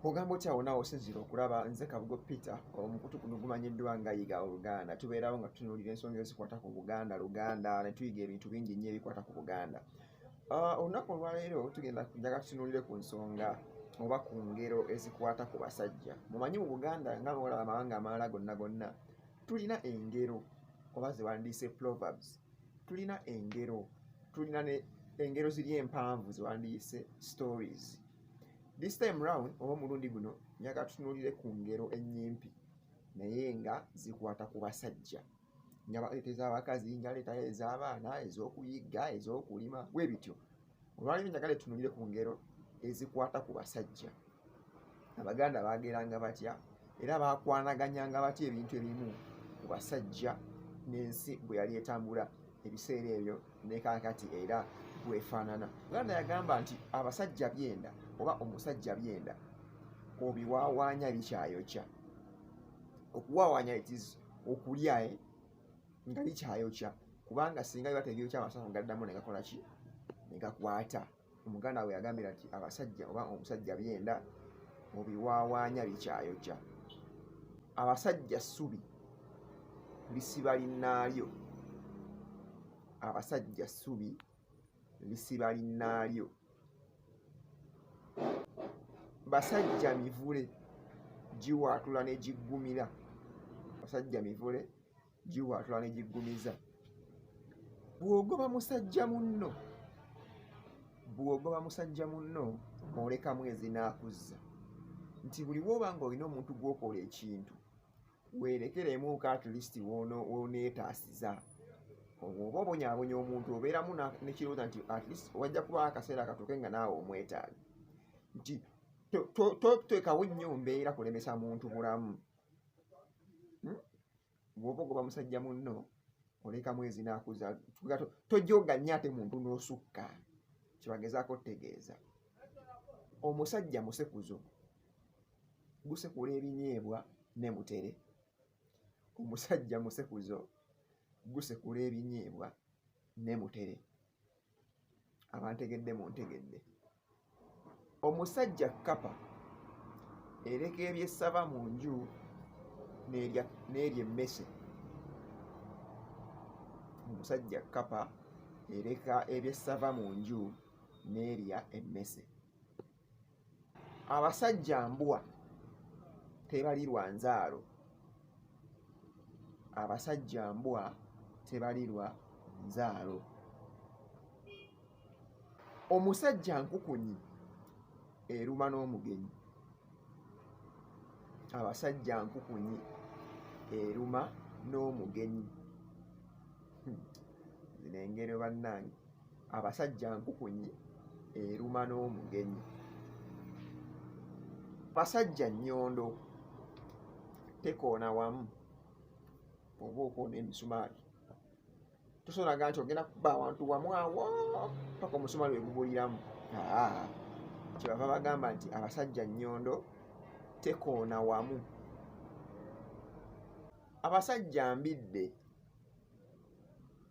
ogamba otya wona osinzira okulaba nze kabugo peter omukutu guno gumanyiddwa nga yiga oluganda tubeerawo nga tutunuulira ensonga ezikwata ku buganda luganda ne tuyiga ebintu bingi nnyo ebikwata ku buganda ah, olunaku olwaleero tugenda njaga tutunuulire ku nsonga oba ku ngero ezikwata ku basajja mumanyi mu buganda nga bwola amawanga amalala gonna gonna tulina engero oba zewandiise proverbs tulina engero tulina ne engero ziri empanvu zewandiise stories This time round oba omulundi guno njaga tutunuulire ku ngero ennyimpi naye nga zikwata ku basajja nga baleeta ez'abakazi nga leeta ez'abaana ez'okuyigga ez'okulima bwe bityo olwaleero njagala etunuulire ku ngero ezikwata ku basajja abaganda baageranga batya era baakwanaganyanga batya ebintu ebimu ku basajja n'ensi bwe yali etambula ebiseera ebyo ne kaakati era bwefaanana uganda yagamba nti abasajja byenda oba omusajja byenda obiwawaanya bikyayokya okuwawaanya itis okulya eh, nga bikyayokya kubanga singa biba tebyokya amasafu gaddamu negakolaki negakwata omuganda we yagambira nti abasajja oba omusajja byenda mubiwaawaanya bikyayokya abasajja ssubi lisiba linnaalyo abasajja ssubi lisiba linnaalyo basajja mivule giwaatula ne giggumira basajja mivule giwaatula ne giggumiza bw'ogoba musajja munno bw'ogoba musajja munno olekamu ezinaakuzza nti buli woba nga olina omuntu gwokola ekintu werekeremuuko atleast woneetaasiza oba obonyabonya omuntu obeeramu nekirowooza nti atleast wajja kubawo akaseera akatuuke nga naawe omwetaaga nti totekawo nnyo mbeera kulemesa muntu bulamu hmm? bwoba ogoba musajja munno oleka mwezi nakuza tojoga nnyo ate muntu nosukka kyebagezaako otegeeza omusajja musekuzo gusekula ebinyeebwa ne mutere omusajja musekuzo gusekula ebinyeebwa ne mutere abantegedde muntegedde omusajja kkapa ereka ebyessaba mu nju n'erya emmese omusajja kkapa ereka ebyessava mu nju n'erya emmese abasajja mbwa tebali lwa nzaalo abasajja mbwa tebali lwa nzaalo omusajja nkukunyi eruma n'omugenyi abasajja nkukunyi eruma n'omugenyi hmm. zino engero bannange abasajja nkukunyi eruma n'omugenyi basajja nnyondo tekoona wamu oba okoona emisumaali tosonaga nti ogenda kuba awantu wamu awo paka omusumaali wegubuliramu kyebava bagamba nti abasajja nnyondo tekoona wamu abasajja mbidde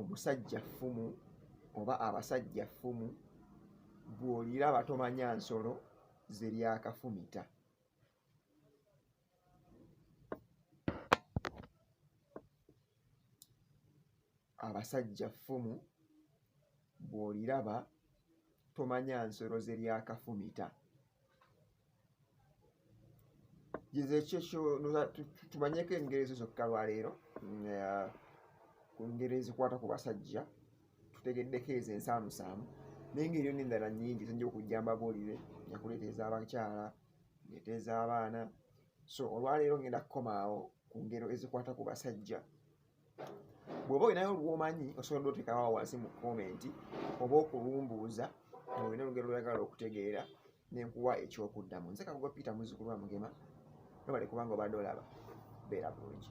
omusajja ffumu oba abasajja ffumu bw'oliraba tomanya nsolo zeryakafumita abasajja ffumu bw'oliraba tomanya nsolo zeryakafumita gizekyeekyo tumanyeko engeri ezo zokka lwaleero mm, uh, ku ngeri ezikwata ku basajja tutegeddeko ezo ensaamusaamu naye ngeri yona endala nyingi zinja okujja mbabuulire nyakuleeta ez'abakyala ngeeta ez'abaana so olwaleero ngenda kukomaawo ku ngero ezikwata ku basajja bwoba olinayo lwomanyi osobola dotekawa wansi mu komenti oba okulumbuuza olina olugero lwagala okutegeera nenkuwa ekyokuddamu nze kakugo peter muzukulu wa mugema nobale kubanga obadde olaba beera bulungi